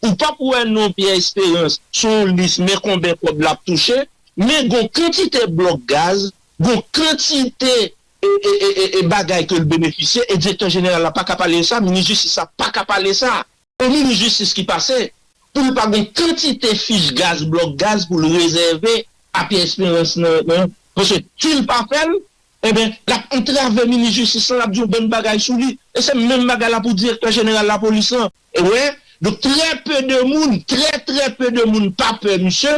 Ou pap wè non Pierre Esperance sou yon lis men konben kòb lap touche, men gon kantite blòk gaz, gon kantite bagay ke l benefisye e direktè jeneral la paka pale de sa, minis jistis la paka pale sa. Yon minis jistis ki pase pou l pa gon kantite fich gaz, blòk gaz pou l rezève a Pierre Esperance nan, paske si l pa fè l, enben lap antrave minis jistis lan, lap di yon bann bagay sou li e se menm bagay la pou direktè jeneral lapolis lan. Ou wè, donk trè pe de moun, trè trè pe de moun pa pè misye,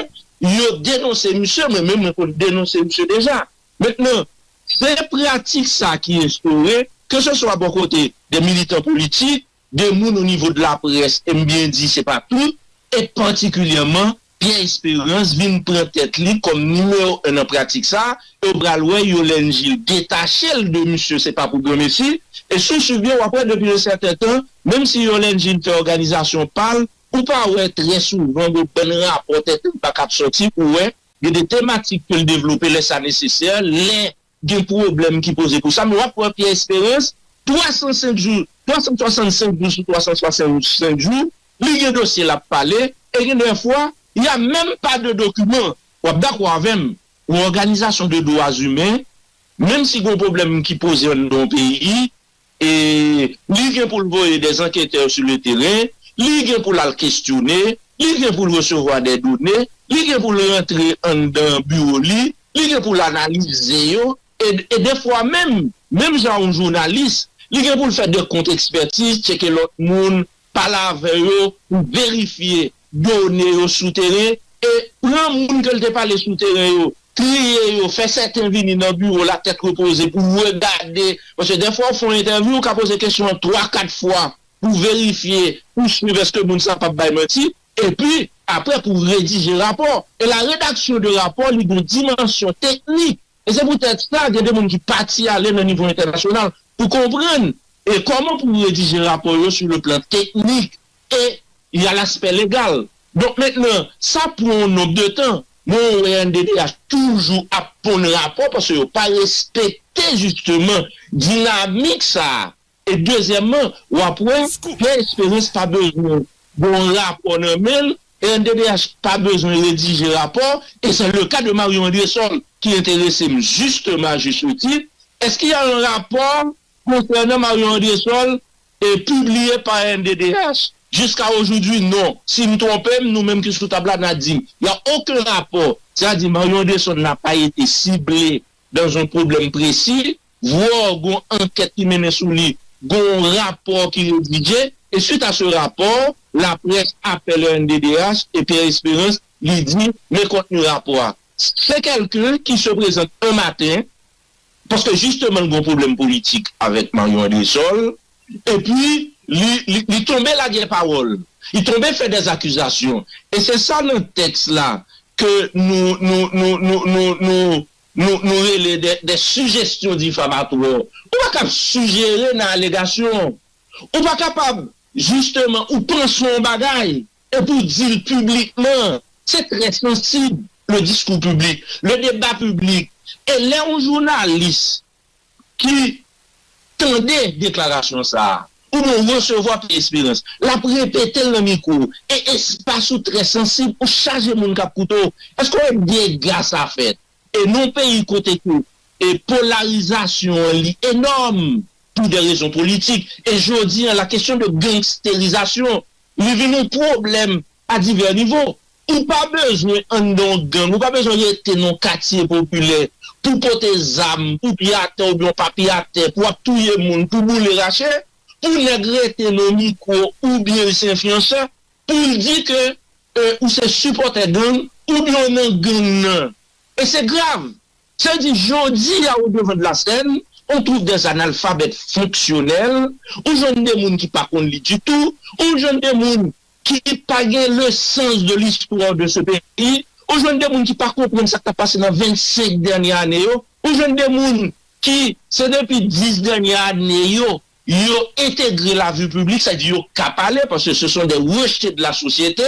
yo denonse misye, mwen menm mwen konn denonse misye deja. Mentnan, se pratik sa ki enstore, ke se swa bò kote de militan politik, de moun o nivo de laprès, e m byen di se pa tout, e patikilyèman Pierre Esperance vin pran tèt li kòm nimewo 1 nan pratik sa, e w pral wè Yolène Gilles detache l de misye se pa pou granmesi, e si w swiv byen w ap wè depi yon sèten tan menm si Yolène Gilles fè òganizasyon pa l ou pa wè trè souvan yon bann rapò tenten pa k ap sòti pou wè gen de tematik ke l devlope lè sa nesesè, lè. Gen pwoblèm ki poze pou sa men wap wè Pierre Esperance 305 jou 365 jou sou 365 jou li gen dosye lap pale e gen dè fwa y a menm pa de dokiman. Wap dakò avè m yon òganizasyon de dwa zimen menm si gon pwoblèm ki poze anndan yon peyi E li gen pou l voye dè anketè sou le teren, li gen pou l al kestyone, li gen pou l resevwa dè done, li gen pou l rantre anndan biwo li, li gen pou l analize yo, e dè fwa menm, menm jan yon jounalis, li gen pou l fè dè kont ekspètiz, tcheke lòt moun, pale avè yo pou verifye done yo sou teren e pran moun ke l te pale sou teren yo, triye yo, fè sèten vini nan biwo l a tèt repoze pou regade, paske dèfwa ou fè yon entèvyou ou ka poze kesyon an twa kat fwa pou verifye, pou swiv eske moun sa p ap bay manti, epi apre pou redije rapò. E la redaksyon de rapò li gen dimansyon teknik. E se pou tèt sa gen de moun ki pati ale nan nivo entènasyonal pou konprann e kòman pou redije rapò yo sou le plan teknik e y a l'aspect legal. Donk mentnan sa pran yon nonb de tan men ou wè rnddh toujou ap ponn rapò paske yo pa respekte jisteman dinamik sa E dezyèmman, w ap wè, Pè Esperans pa bezwen gen yon rapò nan men l, rnddh pa bezwen redije rapò, e se le ka de Marion Andrésol ki enterese m jisteman a juste titre, Est ce qu'il y a un rapport concernant Marion Andrésol et publié par rnddh? Jiska ojoudwi, non. Si m twonpe m, nou menm ki sou tab la, n a di m, y a oken rapò, sètadi Marion Andrésol n a pa ete sible. Dans yon pwoblèm presi, vwò gon ankèt ki mennen sou li, gon rapò ki redije, e suite à ce rapport, la presse appelle rnddh et Pierre Espérance li di men kontni rapò a. Se kèlken ki se prezante un matin, paske jisteman l gon pwoblèm politik avèk Marion Andrésol, Epi, li, li, li tonbe lage pawòl. Li tonbe fè dè akizasyon. E se sa nan tèks la ke nou, nou, nou, nou, nou, nou, nou, nou rele dè, dè sijestyon difamatwò. Ou pa kab sijere nan alegasyon. Ou pa kapab, jisteman, ou panse yon bagay, epi ou di l piblikman. Se trè sansib, le diskou piblik, le deba piblik. E lè yon jounalis. ki tande deklarasyon sa a, oubyen resevwa Pè Esperans, l ap repete l nan mikwo w, e espas ou trè sansib, ou chaje moun k ap koute w, èske w wè dega sa fèt? E nan yon peyi kote ke polarizasyon an li enòm, pou dè rezon politik, e jodi an la kesyon de gangsterizasyon, li vin yon pwoblèm a divè nivo. Ou pa bezwen anndan yon gang, ou pa bezwen rete nan yon katye popilè pou w pote zam, pou w pye atè oubyen w pa pye atè, pou w ap touye moun, pou w boule rache, pou nèg rete nan mikwo oubyen l se enfliyansè, pou l di ke ou se sipòtè gang, oubyen w nan gang nan. E se grav! Sa vle di jodi a o devan de la sèn, on twouv dè analfabèt fonksyonèl, ou jwenn de moun ki pa konn li ditou, ou jwenn de moun ki pa gen le sans de l'histoire de ce pays, ou jwenn de moun ki pa konprann sa k ta pase nan 25 dènye ane yo, ou jwenn de moun ki se depi 10 dènye ane yo, yo entegre la vie publique, sa di yo ka pale paske se son des rejetes de la société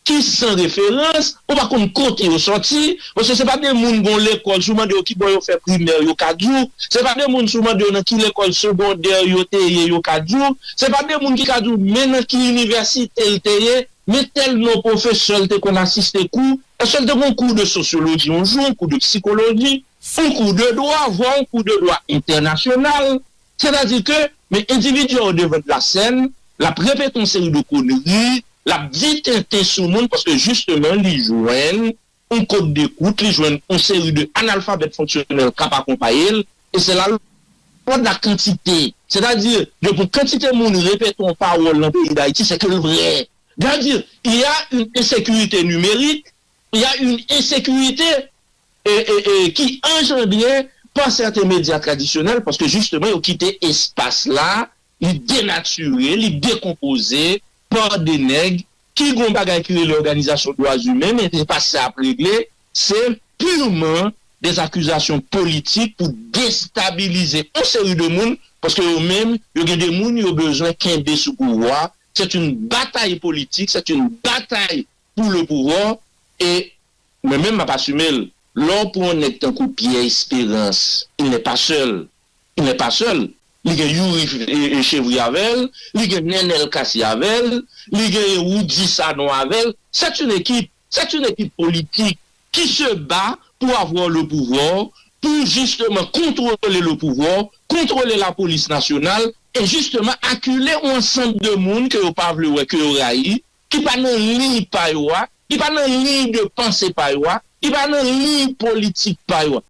ki san referans, ou pa konn kote yo sòti. Paske se pa de moun gon lekòl si w mande yo ki bò yo fè primè yo ka di w, se pa de moun si w mande yo nan ki lekòl segondè yo te ye yo ka di w, se pa de moun ki ka di w men nan ki inivèsite l te ye, men tèl non pwofesè l te konn asiste kou, èske l te gon kou de sosyoloji yon jou, yon kou de psikoloji, yon kou de dwa, vwa yon kou de dwa entènasyonal. Sètadi ke men endividi a odevan de la sèn, l ap repete yon seri de konri, l ap di tenten sou moun paske jisteman li jwenn, yon kod de wout li jwenn yon seri de analfabèt fonksyonèl kap akonpaye l e se la lwa de la kantite sètadi depi yon kantite moun repete yon pawòl nan peyi dayiti se ke l vrè sètadi il ya yn ensekirite nimerik il ya yn ensekirite ki anjandre pa sèten medya tradisyonèl paske jisteman yo kite espas la Li denatire, li dekonpoze pa de nèg ki gon bagay ki rele òganizasyon dwa zimen men se pa sa yap regle, se purman des accusations politiques pou destabilize on seri de moun paske yo menm yo gen de moun yo bezwen kenbe sou pouvwa, c'est une bataille politique, c'est une bataille pour le pouvoir et mwen menm map assume l, lè w pran on nèg tankou Pierre Esperance, il n'est pas seul. il n'est pas seul li gen youri chevri avèl li gen nènèl kasi avèl li gen roody sanon avèl c'est une équipe c'est une équipe politique qui se bat pour avoir le pouvoir pour justement contrôler le pouvoir contrôler la police nationale et justement acculer on ensemble de moun ke yo pa vle wè ke yo rayi ki pa nan liy pa yo a ki pa nan liy de pensée pa yo a ki pa nan liy politique pa yo a.